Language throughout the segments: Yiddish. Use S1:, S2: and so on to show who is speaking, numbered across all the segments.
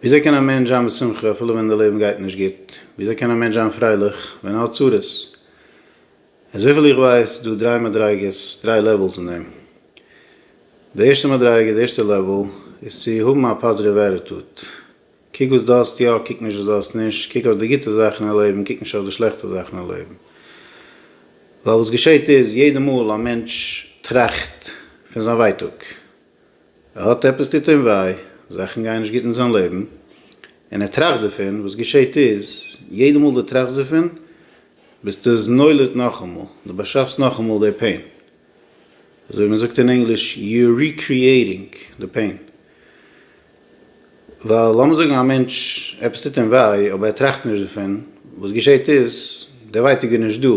S1: וויאזוי קען א מענטש זיין בשמחה אפילו ווען די לעבן גייט נישט גוט? וויאזוי קען א מענטש זיין פרייליך ווען ער האט צרות? איז וויפיל איך ווייס דא דריי מדריגות, דריי לעוועלס אין דעם. די ערשטע מדריגה, די ערשטע לעוועל, איז צו האבן א פאזיטיוו עטיטוד. קוק וואס דו האסט יא, קוק נישט וואס דו האסט נישט, קוק אויף די גוטע זאכן אין לעבן, קוק נישט אויף די שלעכטע זאכן אין לעבן. ווייל וואס געשעט איז, יעדע מאל א מענטש טראכט פון זיין ווייטאג, ער האט עפעס טוט אים וויי, זאכן גייען נישט גוט אין זיין לעבן, און ער טראכט דערפון, וואס געשעהט איז, יעדע מאל דו טראכסט דערפון, ביסטו עס נולד נאכאמאל, דו באשאפסט נאכאמאל די פעין, אזוי ווי מען זאגט אין ענגליש, יו אר ריקריעטינג די פעין. ווייל לאמיר זאגן א מענטש, עפעס טוט אים וויי, אבער ער טראכט נישט דערפון, וואס געשעהט איז, די ווייטאג איז נישט דא,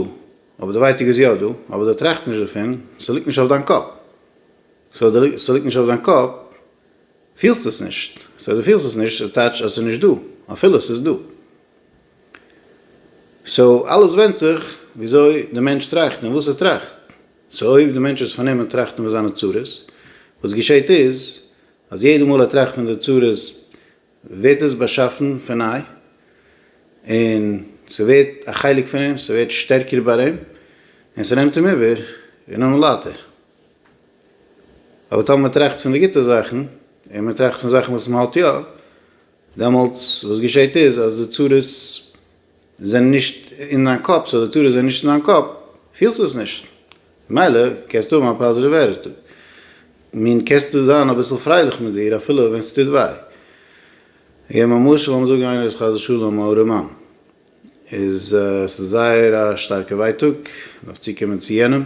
S1: אבער די ווייטאג איז יא דא, אבער דו טראכט נישט דערפון, ס'ליגט נישט אויף דיין קאפ. סאו ס'ליגט נישט אויף דיין קאפ, פילסט עס נישט, סאו דו פילסט עס נישט, ס'איז טייטש אז ס'איז נישט דא, אפילו ס'איז דא. סאו אלעס ווענדט זיך וויאזוי די מענטש טראכט און וואס ער טראכט. סאו אויב די מענטש איז פארנומען טראכטן פון זיינע צרות, וואס געשעהט איז אז יעדע מאל ער טראכט פון די צרות ווערט עס באשאפן פון ניי, און ס'ווערט א חלק פון אים, ס'ווערט שטערקער ביי אים, און ס'נעמט אים איבער און נאך לייטער. אבער טאמער מ'טראכט פון די גוטע זאכן, און מ'טראכט פון זאכן וואס מ'האט יא, דעמאלטס וואס געשעהט איז אז די צרות זענען נישט אין דיין קאפ, סאו די צרות זענען נישט אין דיין קאפ, פילסטו עס נישט, ממילא קענסטו האבן א פאזיטיוו עטיטוד, מין קענסטו זיין אביסל פרייליך מיט דיר אפילו ווען ס'טוט וויי. געב מיר א משל, לאמיר זאגן איינער איז חס ושלום א ארעמאן, איז עס איז זייער א שטארקע ווייטאג, מען דארף צוקומען צו יענעם,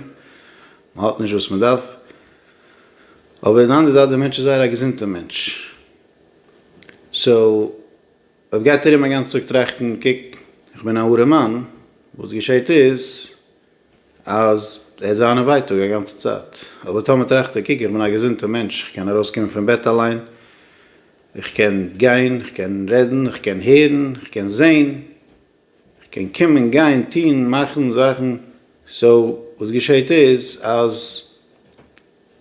S1: מען האט נישט וואס מען דארף, אבער אין די אנדערע זייט דער מענטש איז זייער א געזונטע מענטש, סאו אויב גייט ארום א גאנצע טאג טראכטן קוק איך בין א ארעמאן, וואס געשעט איז אז ער האט זיינע ווייטאג א גאנצע צייט, אבער טאמער טראכט ער קוק איך בין א געזונטע מענטש איך קען ארויס קומען פון בעט אליין, איך קען גיין, איך קען רעדן, איך קען הערן, איך קען זען, איך קען קומען, גיין, טון, מאכן זאכן, סאו וואס געשעהט איז אז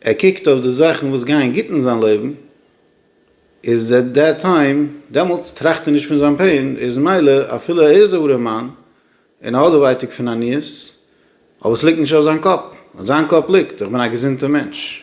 S1: ער קוקט אויף די זאכן וואס גייען גוט אין זיין לעבן, איז עט דעט טיים, דעמאלטס טראכט ער נישט פון זיין פעין, איז מילא אפילו ער איז א ארעם מאן און ער האט די ווייטאג פון עניות, אבער ס'ליגט נישט אויף זיין קאפ, אויף זיין קאפ ליגט איך בין א געזונטע מענטש,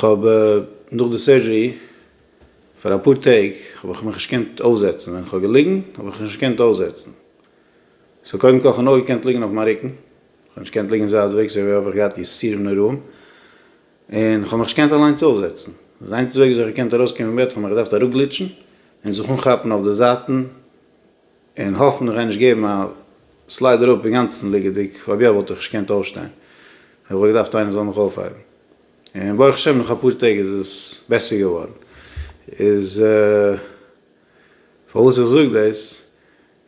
S1: כ'האב נאך די סערדזשערי פאר אפאר טעג האב איך מיך נישט געקענט אויפזעצן, ווען כ'האב געליגן האב איך נישט געקענט אויפזעצן, סאו קודם כל כ'האב נאר געקענט ליגן אויף מיין רוקן, כ'האב נישט געקענט ליגן זייטוועגס אויב האב איך געהאט יסורים נוראים, און כ'האב מיך נישט געקענט אליינס אויפזעצן, די איינציגסטע וועג וויאזוי כ'האב געקענט ארויסקומען פון בעט כ'האב מיך געדארפט ארופגליטשן און זיך אנכאפן אויף די זייטן, און האפן איך גיי נישט געבן א סלייד אראפ אינגאנצן ליגעדיג, אויב יא וואלט איך נישט געקענט אויפשטיין, איך וואלט געדארפט איינער זאל מיך אויפהייבן, און ברוך השם נאך אפאר טעג איז עס בעסער געווארן, איז פארוואס איך זאג דאס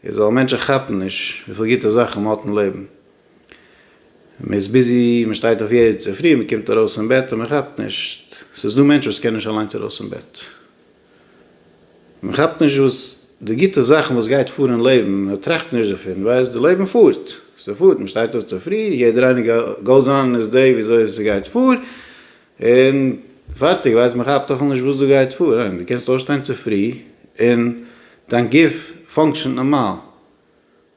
S1: איז ווייל מענטשן כאפן נישט וויפיל גוטע זאכן מען האט אין לעבן, מען איז ביזי, מען שטייט אויף יעדן צופרי, מען קומט ארויס אין בעט און מען כאפט נישט, ס'איז דא מענטשן וואס קענען נישט אליינס ארויס אין בעט. מען כאפט נישט וואס די גוטע זאכן וואס גייט פאר אין לעבן, מען טראכט נישט דערפון, ווייסט די לעבן פארט, ס'פארט, מען שטייט אויף צופרי, יעדער איינער גאוז אן איז דעי וויאזוי ס'גייט פאר, און פארטיג, ווייסט מען כאפט אפילו נישט וואס דא גייט פאר, ניין? דו קענסט אויפשטיין צופרי און דיין גוף פאנקשענט נארמאל,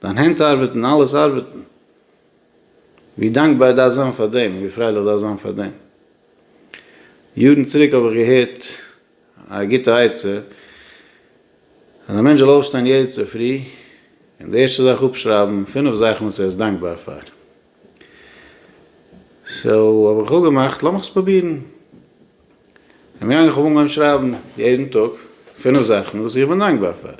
S1: דיין הענט ארבעטן, אלעס ארבעטן, ווי דאנקבאר דארף זיין פאר דעם, ווי פרייליך דארף זיין פאר דעם. יארן צוריק האב איך געהערט א גוטע עצה, אז א מענטש זאל אויפשטיין יעדע צופרי, און די ערשטע זאך אפשרייבן פינף זאכן וואס ער איז דאנקבאר פאר. סאו האב איך אפגעמאכט, לאמיך עס פרובירן. איך בין געגאנגען, איך האב אנגעהויבן שרייבן יעדן טאג פינף זאכן וואס איך בין דאנקבאר פאר.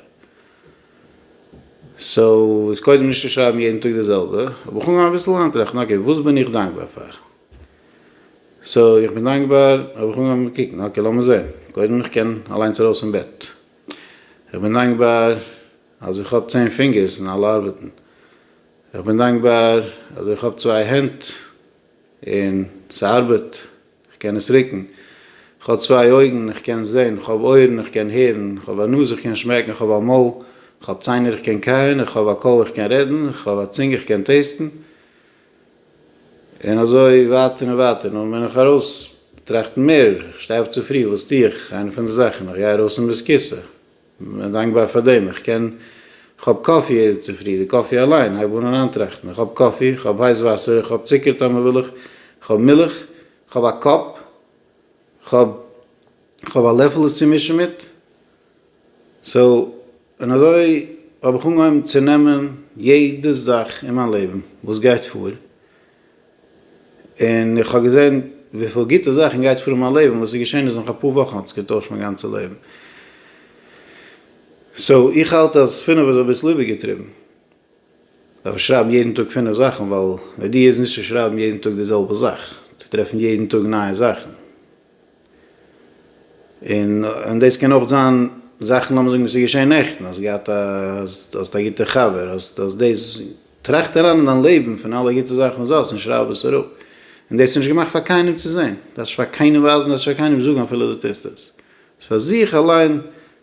S1: סאו איז קודם נישט צו שרייבן יעדן טאג די זעלבע, האב איך אנגעהויבן אביסל אריינטראכטן, אקעי, וואס בין איך דאנקבאר פאר? סא איך בין דאנקבאר האב איך אנגעהויבן קוקן אקעי לאמיר זעהן קודם איך קען אליינס ארויס פון בעט איך בין דאנקבאר אז איך האב צען פינגערס און אלע ארבעטן איך בין דאנקבאר אז איך האב צוויי הענט און ס'ארבעט איך קען עס רוקן איך האב צוויי אויגן איך קען זעהן איך האב אויערן איך קען הערן איך האב א נאז איך קען שמעקן איך האב א מויל איך האב ציינער איך קען קייען איך האב א קול איך קען רעדן איך האב א צונג איך קען טעיסטן. און אזוי ווייטער און ווייטער, נו, בין איך ארויס טראכטן מער, איך שטיי אויף צופרי, וואס טו איך? איינע פון די זאכן, איך גיי ארויס אין ביסקיסע, איך בין דאנקבאר פאר דעם, איך קען, איך האב קאפי יעדע צופרי, די קאפי אליין, הייב אן אריינטראכטן, איך האב קאפי, איך האב הייס וואסער, איך האב צוקער טאמער וויל איך, איך האב מילך, איך האב א קאפ, איך האב, איך האב א לעפל עס צו מישן מיט. סאו, און אזוי האב איך אנגעהויבן צו נעמען יעדע זאך אין מיין לעבן וואס גייט פאר, און איך האב געזען וויפיל גוטע זאכן גייט פאר אין מיין לעבן, וואס איז געשען איז נאך אפאר וואכן האט עס געטוישט מיין גאנצע לעבן. סאו, איך האלט אז פינף איז אביסל איבערגעטריבן. דארף מען שרייבן יעדן טאג פינף זאכן, ווייל די אידעע איז נישט צו שרייבן יעדן טאג די זעלבע זאך, צו טרעפן יעדן טאג נייע זאכן, און דאס קען אויך זיין זאכן לאמיר זאגן וואס איז געשען נעכטן, האסט געהאט א, האסט א גוטע חבר, האסט האסט דאס, טראכט אריין אין דיין לעבן פון אלע גוטע זאכן וואס דו האסט און שרייב עס אראפ, און דאס איז נישט געמאכט פאר קיינעם צו זען, דו דארפסט נישט פאר קיינעם ווייזן, דו דארפסט נישט פאר קיינעם זאגן אפילו דו טוסט עס, ס'איז פאר זיך אליין,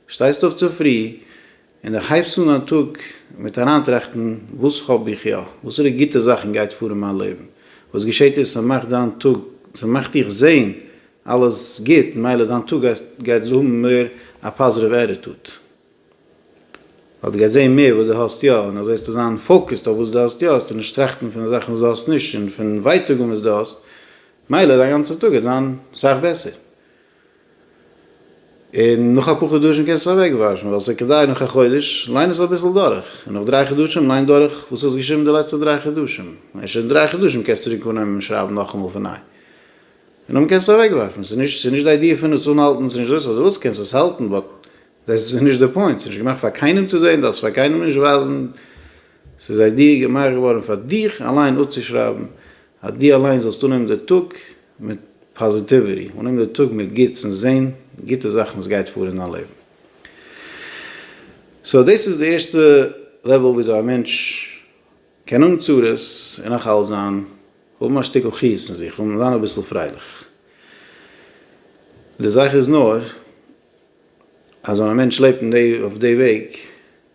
S1: שטייסט אויף צופרי, און איך הייבס אן א טאג מיט אריינטראכטן וואס האב איך יא, וואסערע גוטע זאכן גייט פאר אין מיין לעבן, וואס געשעט איז ס'מאכט דיין טאג, ס'מאכט דיך זעהן אלעס גוט, מילא דיין טאג גייט האבן מער א פאזיטיוו עטיטוט, ווייל דו גייסט זעהן מער וואס דו האסט יא, און אזוי וועסטו זיין פאוקעסט אויף וואס דו האסט יא, וועסטו נישט טראכטן פון די זאכן וואס דו האסט נישט און פון ווייטאגן וואס דו האסט, מילא דיין גאנצע טאג גייט זיין סאך בעסער. און נאך אפאר חדשים קענסטו עס אוועקוואשן ווייל עס איז כדאי נאך א חודש, ליין עס אביסל דורך, און נאך דריי חדשים ליין דורך וואס האסט געשריבן די לעצטע דריי חדשים, און שוין אין דריי חדשים קענסטו צוריק אנהייבן און שרייבן נאכאמאל פון ניי, און דאן קענסטו עס אוועקווארפן, ס'איז נישט ס'איז נישט די איידיע פון עס אנהאלטן ס'איז נישט דאס, אויב דו ווילסט קענסטו עס האלטן באט דעס איז נישט די פוינט, ס'איז נישט געמאכט פאר קיינעם צו זען, דארפסט פאר קיינעם נישט ווייזן, ס'איז איידיע געמאכט געווארן פאר דיך אליין אפצושרייבן אז דו אליין זאלסט אננעמען די טאג מיט פאזיטיוויטי, אננעמען די טאג מיט גוטס און זען גוטע זאכן וואס גייט פאר אין דיין לעבן. סאו דאס איז די ערשטע לעוועל וויאזוי א מענטש קען האבן צרות און נאך אלס זיין, האבן א שטיקל חיות אין זיך, האבן זיין אביסל פרייליך. די זאך איז נאר אז ווען א מענטש לעבט אין די אויף די וועג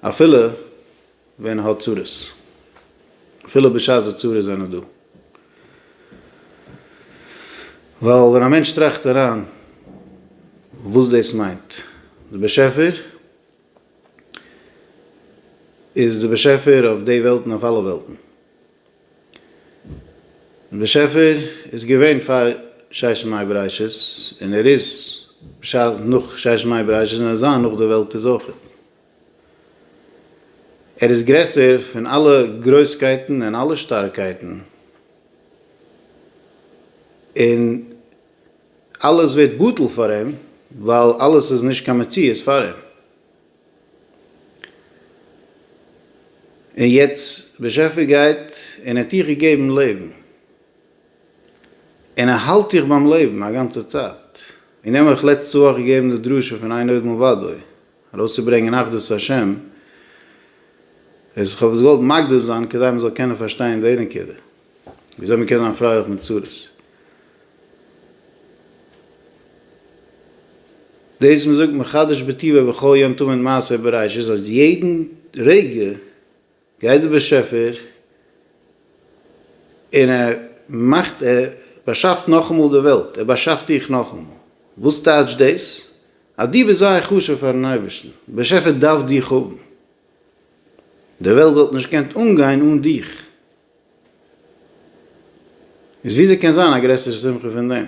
S1: אפילו ווען ער האט צרות. אפילו בשעת די צרות זענען דא. ווייל ווען א מענטש טראכט אריין וואס דאס מיינט. די באשעפער איז די באשעפער אויף די וועלט און אויף אלע וועלטן. און באשעפער איז געווען פאר ששת ימי בראשית און ער איז בשעת נאך ששת ימי בראשית און ער זיין נאך די וועלט איז אויכעט. ער איז גרעסער פון אלע גרויסקייטן און אלע שטארקייטן און אלעס ווערט בטל פאר אים ווייל אלעס איז נישט קיין מציאות פאר אים. און יעצט באשעפער גייט און האט דיך געגעבן לעבן, און ער האלט דיך ביים לעבן א גאנצע צייט, און די האבן אויך לעצטע וואך געגעבן די דרשה פון אין עוד מלבדו ארויסצוברענגען אחדות השם, איז כ'האב עס געוואלט מקדים זיין כדי מ'זאל קענען פארשטיין די נקודה. וויאזוי מען קען זיין פרייליך מיט צרות. דאס מען זאגט מחדש בטבע בכל יום תמיד מעשה בראשית אז יעדן רגע גייט דער באשעפער און ער מאכט ער באשאפט נאכאמאל די וועלט, ער באשאפט דיך נאכאמאל. וואס טייטשט דאס? אז דו ביסט זייער חשוב פארן אייבערשטן, דער באשעפער דארף דיך האבן, די וועלט וואלט נישט געקענט אנגיין אן דיך, איז וויאזוי קען זיין א גרעסערע שמחה פון דעם?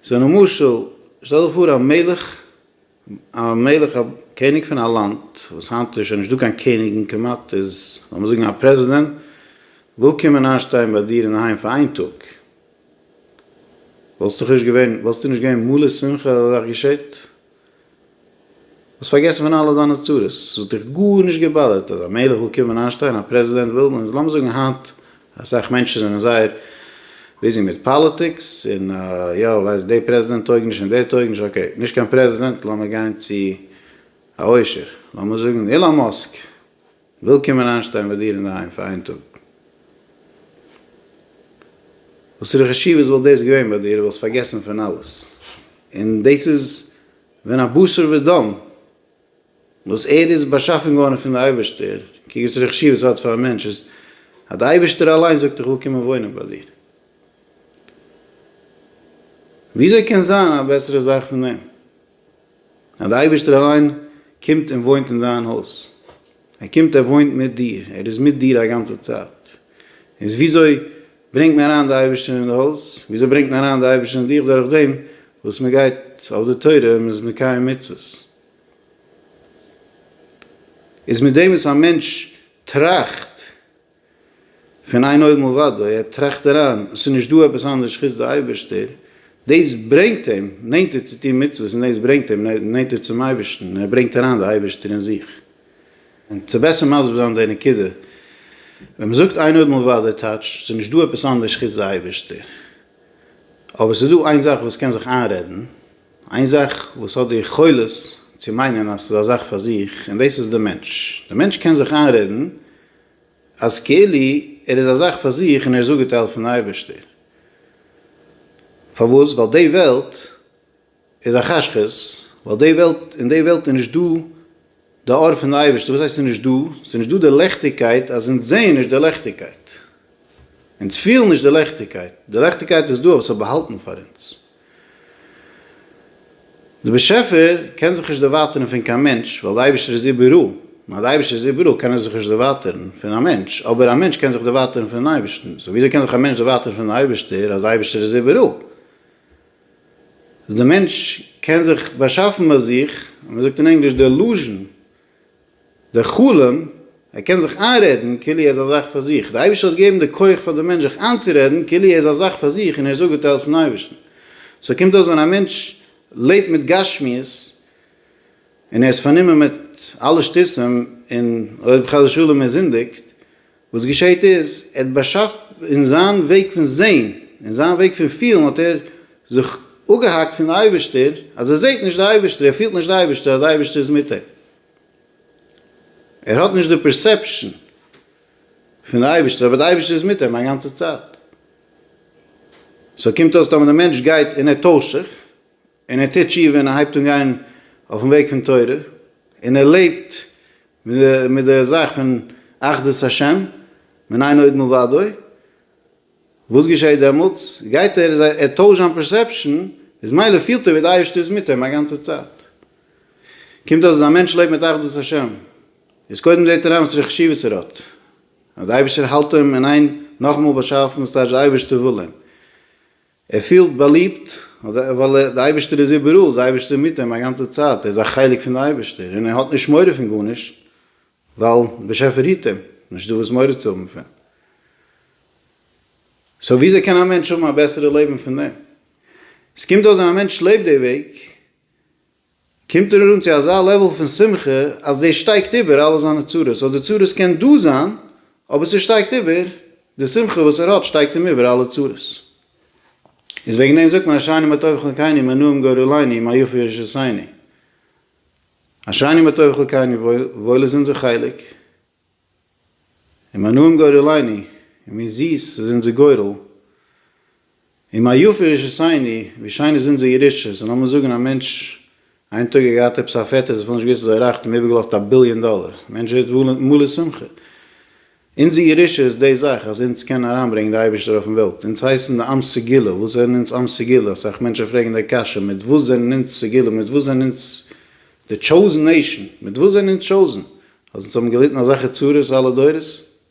S1: סאו למשל, שטעל דיך פאר א מלך, א מלך א קעניג פון א לאנד, וואס היינט איז שוין נישטא קיין קעניגן כמעט, איז לאמיר זאגן א פרעזידענט, וויל קומען איינשטיין ביי דיר אינדערהיים פאר איין טאג, וואלסט דאך נישט געווען, וואלסטו נישט געווען מלא שמחה אז אזא זאך געשעט? האסט פארגעסן פון אלע דיינע צרות? עס וואלט דיך גארנישט געבאדערט אז א מלך וויל קומען איינשטיין א פרעזידענט וויל און לאמיר זאגן היינט אסאך מענטשן זענען זייער ביזי מיט פאליטיקס און יא ווייסט די פרעזידענט טויג נישט און דער טויג נישט אקעי נישט קיין פרעזידענט לאמיר גיין צו א עושר לאמיר זאגן אילאן מאסק וויל קומען איינשטיין ביי דיר אינדערהיים פאר איין טאג. וואסערע חשיבות וואלט דאס געווען ביי דיר? וואלסט פארגעסן פון אלעס. און דאס איז ווען א בשר ודם וואס ער איז באשאפן געווארן פון די אייבערשטער, קוק וואסערע חשיבות ס'האט פאר א מענטש אז די אייבערשטער אליין זאגט איך וויל קומען וואוינען ביי דיר. וויאזוי קען זיין א בעסערע זאך פון דעם? אז דער אייבערשטער אליין קומט און וואוינט אין דיין הויז, ער קומט ער וואוינט מיט דיר, ער איז מיט דיר א גאנצע צייט, איז וויאזוי ברענגט מען אריין די אייבערשטער אין די הויז, וויאזוי ברענגט מען אריין די אייבערשטער אין דיך, דורך דעם וואס מען גייט אויף די תורה און מען איז מקיים מצוות, איז מיט דעם וואס א מענטש טראכט, פון איין אויבן ובדוי, ער טראכט אריין, עס איז נישט דא עפעס אנדערש חוץ די אייבערשטער, דאס ברענגט אים נענטער צו טון מצוות און דאס ברענגט אים נענטער צום אייבערשטן, ער ברענגט אריין די אייבערשטער אין זיך. און צו בעסער מסביר זיין די נקודה, ווען מען זאגט איין אויבן ובדוי טייטש, עס איז נישט דא עפעס אנדערש חוץ די אייבערשטער, אבער עס איז דא איין זאך וואס קען זיך איינרעדן, איין זאך וואס האט די יכולת צו מיינען אז עס איז א זאך פאר זיך, און דאס איז די מענטש, די מענטש קען זיך איינרעדן אז כאילו ער איז א זאך פאר זיך און ער איז אפגעטיילט פון אייבערשטער. פארוואס? ווייל די וועלט איז א חשכות, ווייל די וועלט, אין די וועלט איז נישט דא די אור פון די אייבערשטע, וואס הייסט עס איז נישט דא? עס איז נישט דא די לעכטיגקייט אז אונז זעהן נישט די לעכטיגקייט, אונז פילן נישט די לעכטיגקייט, די לעכטיגקייט איז דא אבער עס איז באהאלטן פאר אונז, דער באשעפער קען זיך נישט דערווייטערן פון קיין מענטש, ווייל דער אייבערשטער איז איבעראל, און אז דער אייבערשטער איז איבעראל קען ער זיך נישט דערווייטערן פון א מענטש, אבער א מענטש קען זיך דערווייטערן פונעם אייבערשטן, סאו וויאזוי קען זיך א מענטש דערווייטערן פון דעם אייבערשטער אז דער אייבערשטער איז איבעראל? דער מענטש קען זיך באשאפן ביי זיך, ווי מ'זאגט אין ענגליש, דעלוזשן. דער חלום, ער קען זיך איינרעדן כאילו ער איז א זאך פאר זיך. דער אייבערשטער האט געגעבן די כח פאר דעם מענטש זיך איינצורעדן כאילו ער איז א זאך פאר זיך און ער איז אפגעטיילט פון אייבערשטן. סאו קומט אויס ווען א מענטש לעבט מיט גשמיות און ער איז פארנומען מיט אלע שטותים און אויב חס ושלום ער זינדיגט וואס געשעהט איז, ער האט באשאפט אין זיין וועג פון זעהן, אין זיין וועג פון פילן האט ער זיך אפגעהאקט פון די אייבערשטער, אז ער זעהט נישט די אייבערשטער, ער פילט נישט די אייבערשטער, אז די אייבערשטער איז מיט אים. ער האט נישט די פערסעפשאן פון די אייבערשטער, אבער די אייבערשטער איז מיט אים א גאנצע צייט. סאו קומט אויס טאמער די מענטש גייט אין התעשכ, און ער טוט תשובה און ער הייבט אן גיין אויפן וועג פון תורה, און ער לעבט מיט די זאך פון אחדות השם, מען איין עוד מלבדו, וואס געשעהט דעמאלטס? גייט ער, ער טוישט זיין פערסעפשאן, איז מילא פילט ער ווי די אייבערשטער איז מיט אים א גאנצע צייט. קומט אויס אז א מענטש לעבט מיט אחדות השם, איז קודם זעהט ער איין וואסערע חשיבות ער האט, אז די אייבערשטער האלט אים אין איין, נאכאמאל באשאפן, ס'טייטש די אייבערשטער וויל אים, ער פילט באליבט, ווייל דער אייבערשטער איז איבעראל, דער אייבערשטער איז מיט אים א גאנצע צייט, ער איז א חלק פון דער אייבערשטער, און ער האט נישט מורא פון גארנישט, ווייל דער באשעפער היט אים, נישטא וואס מורא צו האבן פון. סאו וויאזוי קען א מענטש האבן א בעסערע לעבן פון דעם? עס קומט אויס ווען א מענטש לעבט די וועג, קומט ער אן צו אזא לעוועל פון שמחה אז דאס שטייגט איבער אלע זיינע צרות, סאו די צרות קען דא זיין, אבער ס'שטייגט איבער, די שמחה וואס ער האט שטייגט אים איבער אלע צרות. איז וועגן דעם זאגט מען אשריני מה טוב חלקיני מה נעים גורליני מה יפה ישעשעני. אשריני מה טוב חלקיני וואויל איז אונזער חלק, און מיין נועם גורלינו, און ווי זיס איז אונזער גורל, און מה יפה ירושתינו, ווי שיין איז אונזער ירושה, סאו לאמיר זאגן א מענטש איין טאג האט געהאט עפעס א פעטער זיך האט נישט געוויסט אז ער רייכט און איבערגעלאזט א ביליאן דאלער, דער מענטש ווערט מלא שמחה. אונזער ירושה איז די זאך אז אונז קענען אריינברענגען די אייבערשטער אויפן וועלט, אונז הייסן די עם סגולה, וואס זענען אונז עם סגולה, אסאך מענטשן פרעגן די קשיא, מיט וואס זענען אונז סגולה, מיט וואס זענען אונז די טשאוזן נעישן, מיט וואס זענען אונז טשאוזן? אז אונז האבן געליטן אזעלכע צרות אלע דורות,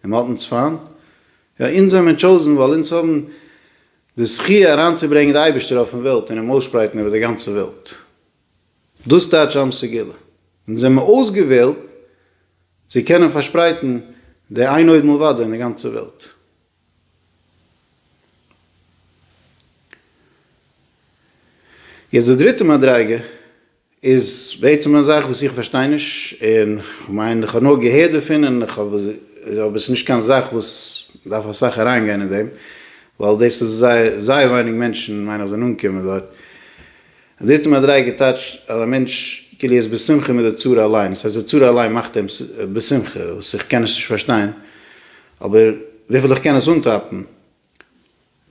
S1: און מען האט אונז פיינט, יא אונז זעמער טשאוזן ווייל אונז האבן די זכי' אריינצוברענגען די אייבערשטער אויפן וועלט און אים אויסשפרייטן איבער די גאנצע וועלט, דאס טייטש עם סגולה, אונז זעמער אויסגעוועלט צו קענען פארשפרייטן די איין עוד מלבדו אין די גאנצע וועלט. יעצט די דריטע מדריגה. איז בעצם א זאך וואס איך פארשטיי נישט, און כ'מיין איך האב נאר געהערט דערפון און איך האב אבער ס'איז נישט קיין זאך וואס מ'דארף אסאך אריינגיין אין דעם, ווייל דאס איז זייער זייער ווייניג מענטשן מיין איך זענען אנגעקומען דארט. און דריטע מדריגה טייטשט אז א מענטש כאילו ער איז בשמחה מיט די צרה אליין, עס הייסט די צרה אליין מאכט אים בשמחה, וואס איך קען עס נישט פארשטיין, אבער וויפיל איך קען עס אנטאפן,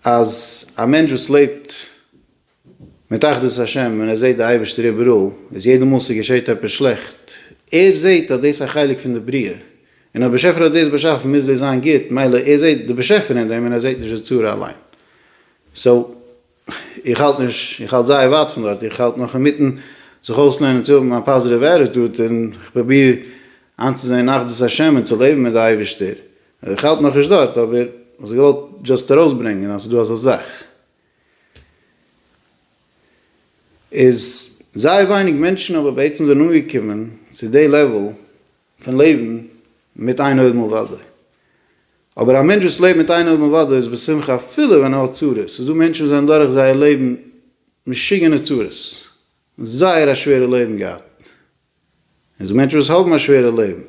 S1: אז א מענטש וואס לעבט מיט אחדות השם און ער זעט די אייבערשטער איבעראל איז יעדע מאל ס'געשעט עפעס שלעכט ער זעט אז דאס איז א חלק פון די בריאה און אז באשעפער האט דאס באשאפן מוז דאס זיין גוט מילא ער זעט די באשעפער אין דעם און ער זעט נישט די צרה אליין סאו איך האלט נישט איך האלט זייער ווייט פון דארט איך האלט נאך אינמיטן זיך אויסלערנען צו האבן א פאזיטיוו עטיטוד און איך פרוביר איינצוזען אחדות השם און צו לעבן מיט די אייבערשטער איך האלט נאך נישט דארט אבער איך וואלט געוואלט דשאסט ארויסברענגען אז ס'איז דא אזא זאך. איז זייער ווייניג מענטשן אבער בעצם זענען אנגעקומען צו די לעוועל פון לעבן מיט איין אויבן אויף וואדע. אבער א מענטש וואס לעבט מיט איין אויבן אויף וואדע איז בשמחה אפילו ווען ער האט צרות. ס'איז דא מענטשן וואס זענען דורך זייער לעבן משוגענע צרות, זייער א שווערע לעבן געהאט. און ס'איז דא מענטשן וואס האבן א שווערע לעבן.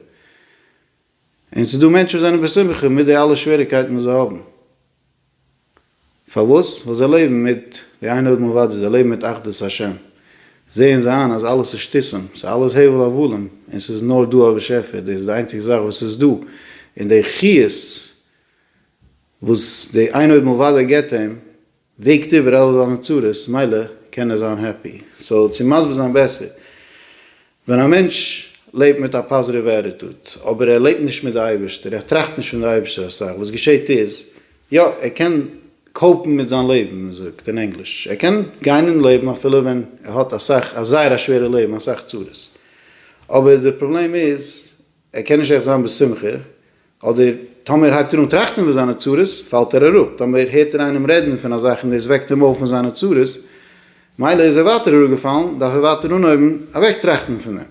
S1: און ס'איז דא מענטשן וואס זענען בשמחה מיט די אלע שוועריקייטן וואס זיי האבן. פארוואס? ווייל זיי לעבן מיט די איין אויבן אוואדי, זיי לעבן מיט אחדות השם, זעען זיי איין אז אלעס איז שטותים, ס'איז אלעס הבל הבלים, און ס'איז נאר דא א באשעפער, דאס איז די איינציגסט זאך וואס איז דא, און די חיות וואס די איין אויבן אוואדי געבט אים, וועגט איבער אלע זיינע צרות, מילא קען ער זיין העפי. סאו צו מסביר זיין בעסער, ווען א מענטש לעבט מיט א פאזיטיווע עטיטוד, אבער ער לעבט נישט מיט די אייבערשטער, ער טראכט נישט פון די אייבערשטער אסאך, וואס געשעהט איז, יא, ער קען קאופן מיט זיין לעבן, ווי מען זאגט אין ענגליש, ער קען גיין אין לעבן אפילו ווען ער האט אסאך, א זייער א שווערע לעבן, אסאך צרות, אבער די פראבלעם איז, ער קען נישט עכט זיין בשמחה, אדער טאמער הייבט ער אן טראכטן איבער זיינע צרות, פאלט ער אראפ, טאמער הערט ער איינעם רעדן פון א זאך און דאס וועקט אים אויף פון זיינע צרות, מילא איז ער ווייטער אראפגעפאלן, דארף ער ווייטער אנהויבן אוועקטראכטן פון דעם.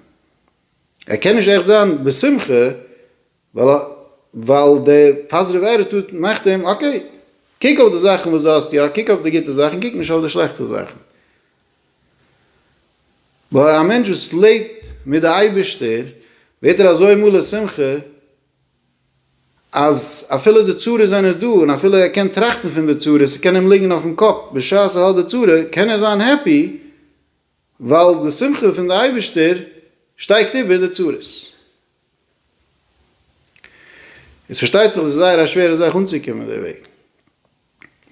S1: ער קען נישט עכט זיין בשמחה, ווייל דער פאזיטיוו עטיטוד מאכט אים, אקעי, קוק אויף די זאכן וואס דו האסט יא, קוק אויף די גוטע זאכן, קוק נישט אויף די שלעכטע זאכן. ווייל א מענטש וואס לעבט מיט די אייבערשטער ווערט ער אזוי מלא שמחה אז אפילו די צרות זענען דא און אפילו ער קען טראכטן פון די צרות ס'קען אים ליגן אויפן קאפ בשעת ער האט די צרה קען ער זיין העפי ווייל די שמחה פון די אייבערשטער שטייגט איבער די צרות. איז פארשטייט זיך עס איז זייער א שווערע זאך אנצוקומען דערוועגן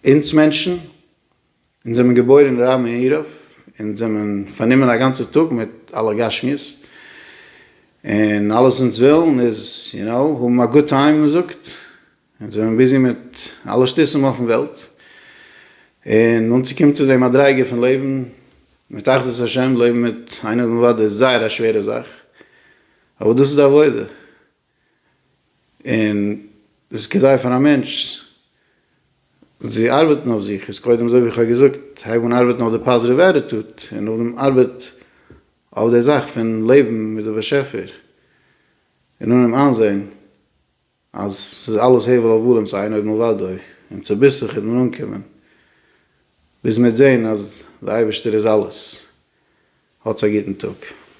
S1: אונז מענטשן. אונז זעמען געבוירן אין רמ ע עירוב, אונז זעמען פארנומען א גאנצע טאג מיט אלע גשמיות, און אלעס אונז ווילן איז יו נאו האבן א גוד טיים מען זאגט, אונז זעמען ביזי מיט אלע שטותים אויפן וועלט, און אנצוקומען צו די מדריגה פון לעבן מיט אחדות השם, לעבן מיט איין אדם לבד איז זייער א שווערע זאך, אבער דאס איז די עבודה. און עס איז כדאי פאר א מענטש צו ארבעטן אויף זיך, איז קודם אזוי ווי איך האב געזאגט, הייב אן ארבעטן אויף די פאזיטיוו עטיטוט, און נאכדעם ארבעט אויף די זאך פון לעבן מיט די באשעפער, און אננעמען איינזען אז ס'איז אלעס הבל הבלים צו איין אויבן אוודאי, און צוביסלעך וועט מען אנקומען ביז מ'וועט זען אז די אייבערשטער איז אלעס. האטס א גוטן טאג.